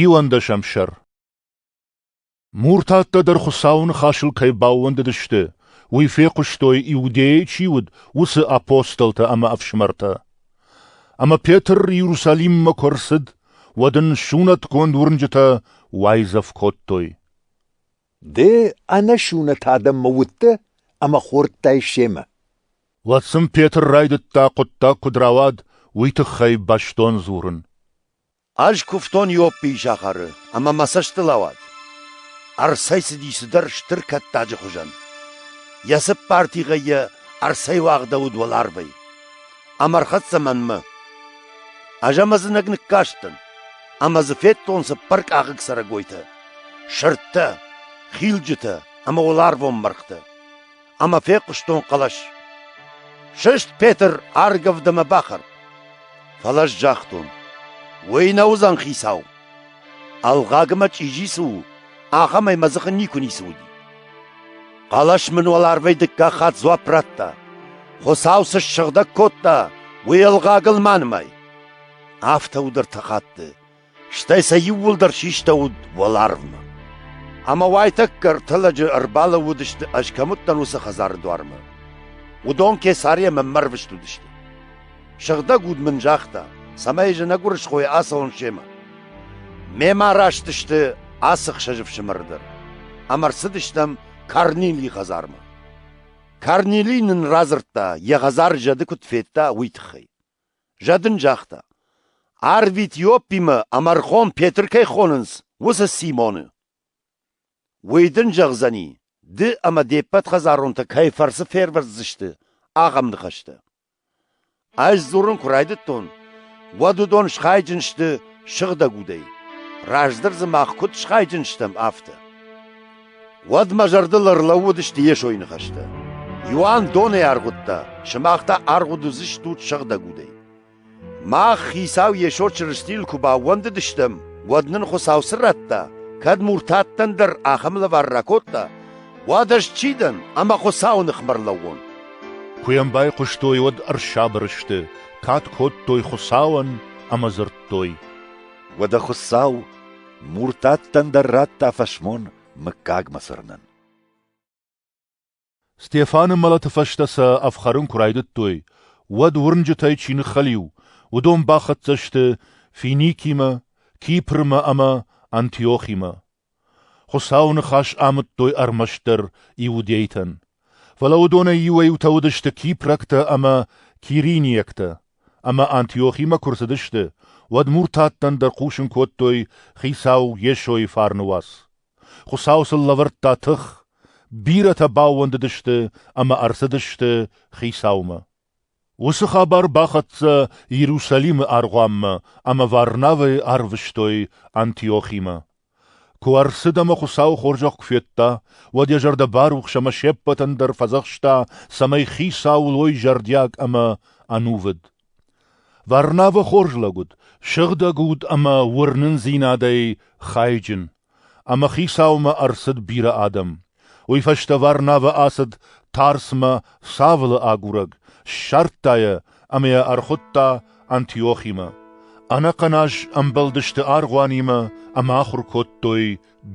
Иуӕндӕсӕм сӕр Муртаттӕ дӕр Хуыцауы ныхасыл кӕй баууӕндыдысты, уый фехъуыстой, Иудейӕ чи уыд, уыцы апостолтӕ ӕмӕ ӕфсымӕртӕ. Ӕмӕ Петр Иерусалиммӕ куы ӕрцыд, уӕд ын сунӕтгонд уырнджытӕ уайдзӕф кодтой. Ды ӕнӕсунӕт адӕммӕ уыдтӕ ӕмӕ хордтай семӕ. Уӕд сын Петр райдыдта хъуыддаг куыд рауад, уый тыххӕй бӕстон дзурын. Ӕз куывтон Иоппийы сахары, ӕмӕ мӕ цӕстыл ауад. Ӕрцӕйцыди цыдӕр стыр кӕттаджы хуызӕн. Йӕ цыппар тигъӕй йӕ ӕрцӕйуагъдӕуыд уӕларвӕй. Ам ӕрхӕццӕ мӕнмӕ. Ӕз ӕм ӕдзынӕг ныккастӕн, ӕмӕ дзы федтон цыппар къахыг цӕрӕгойтӕ, сырдтӕ, хилджытӕ ӕмӕ уӕларвон мӕргътӕ. ӕмӕ фехъуыстон хъӕлӕс. Сыст, Петр, аргӕвд ӕмӕ бахӕр. Фӕлӕ ӕз загътон, уый нӕ уыдзӕн хицау. Ӕлгъаг ӕмӕ чъизи цы у, ахӕмӕй мӕ дзыхы никуы ницы уыди. Хъӕлӕс мын уӕларвӕй дыккаг хатт дзуапп радта. Хуыцау цы ссыгъдӕг кодта, уый ӕлгъагыл ма нымай. Афтӕ у дӕр хатты, стӕй сӕ иууылдӕр систӕуыд уӕларвмӕ. Ӕмӕ уайтӕккӕ ӕртӕ лӕджы ӕрбалӕууыдысты, ӕз кӕм уыдтӕн, уыцы хӕдзары дуармӕ. Уыдон Кесари ӕмӕ мӕрвыст уыдысты. Сыгъдӕг уд мын загъта, цӕмӕй зынӕг уырысхойы ацӕуон семӕ. Мемӕ араст сты ацы хсӕз ӕфсымӕр дӕр, ӕмӕ рцыдыстӕм Корнилийы хӕдзармӕ. Корнили нын радзырдта, йӕ хӕдзары зӕды куыд федта, уый тыххӕй. Зӕд ын загъта, арвит Иоппимӕ ӕмӕ рхон Петр кӕй хонынц, уыцы Симоны. Уый дын зӕгъдзӕни, ды ӕмӕ де ппӕт хӕдзаронтӕ кӕй фӕрцы фервӕздзысты, ахӕм ныхӕстӕ. Ӕз дзурын куы райдыдтон, уӕд уыдон схайджын сты сыгъдӕг удӕй, раздӕр дзы мах куыд схайджын стӕм, афтӕ. Уӕд мӕ зӕрдыл ӕрлӕууыдысты Йесойы ныхӕстӕ: «Иоанн донӕй аргъуыдта, сымах та аргъуыд уыдзыстут сыгъдӕг удӕй. Мах, Хицау Йесо Чырыстийыл куы баууӕндыдыстӕм, уӕд нын Хуыцау цы радта, кӕд муртаттӕн дӕр ахӕм лӕвар ракодта, уӕд ӕз чи дӕн ӕмӕ Хуыцауы ныхмӕ ӕрлӕууон?» Куы йӕм байхъуыстой, уӕд ӕрсабыр сты, кад кодтой Хуыцауӕн ӕмӕ дзырдтой: «Уӕдӕ Хуыцау Муртаттӕн дӕр радта фӕсмон мыггагмӕ цырнын. Стефаны мӕлӕты фӕстӕ сӕ ӕфхӕрын куы райдыдтой, уӕд уырнджытӕй чи ныххӕлиу, уыдон бахӕццӕ сты Финикимӕ, Кипрмӕ ӕмӕ Антиохимӕ. Хуыцауы ныхас амыдтой ӕрмӕстдӕр иудейтӕн. Фӕлӕ уыдонӕй иуӕй-иутӕ уыдысты кипрӕгтӕ ӕмӕ кириниӕгтӕ, ӕмӕ Антиохимӕ куы рцыдысты, уӕд муртаттӕн дӕр хъусын кодтой хицау Йесойы фарны уац. Хуыцау сыл лӕвӕрдта тых, бирӕтӕ баууӕндыдысты ӕмӕ ӕрцыдысты Хицаумӕ. Уыцы хабар бахӕццӕ Иерусалимы аргъуанмӕ ӕмӕ Варнавӕйы арвыстой Антиохимӕ. Куы ӕрцыд ӕмӕ Хуыцауы хорзӕх куы федта, уӕд йӕ зӕрдӕ барухс ӕмӕ се ппӕтӕн дӕр фӕдзӕхста, цӕмӕй хицауыл уой зӕрдиаг ӕмӕ ӕнувыд. Варнавӕ хорз лӕг уыд, сыгъдӕг уд ӕмӕ уырнындзинадӕй хайджын. Ӕмӕ хицаумӕ ӕрцыд бирӕ адӕм. Уый фӕстӕ Варнавӕ ацыд Тарсмӕ Савлы агурӕг, ссардта йӕ ӕмӕ йӕ ӕрхуыдта Антиохимӕ. Ӕнӕхъӕн аз ӕмбӕлдысты аргъуанимӕ ӕмӕ ахуыр кодтой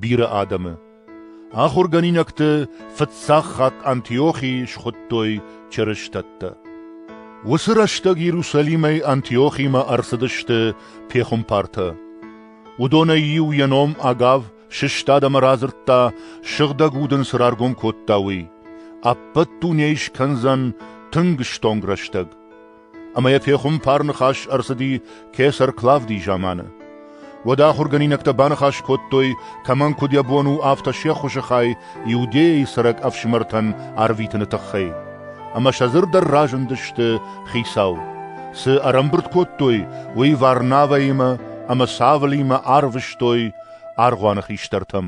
бирӕ адӕмы. Ахуыргӕнинӕгты фыццаг хатт Антиохийы схуыдтой чырыстӕттӕ. Уыцы рӕстӕг Иерусалимӕй Антиохимӕ ӕрцыдысты пехуымпартӕ. Уыдонӕй иу йӕ ном Агав сыстад ӕмӕ радзырдта, сыгъдӕг удын цы раргом кодта, уый. Ӕппӕт дунейы скӕндзӕн тынг стонг рӕстӕг. Ӕмӕ йӕ пехуымпар ныхас ӕрцыди кесӕр Клавдийы заманы. Уӕд ахуыргӕнинӕгтӕ баныхас кодтой, кӕмӕн куыд йӕ бон у, афтӕ се ххуысы хай Иудейӕйы цӕрӕг ӕфсымӕртӕн арвитыны тыххӕй. Ӕмӕ сӕ дзырд дӕр разындысты Хицау. Цы ӕрӕмбырд кодтой, уый Варнавӕимӕ ӕмӕ Савлимӕ арвыстой аргъуаны хистӕртӕм.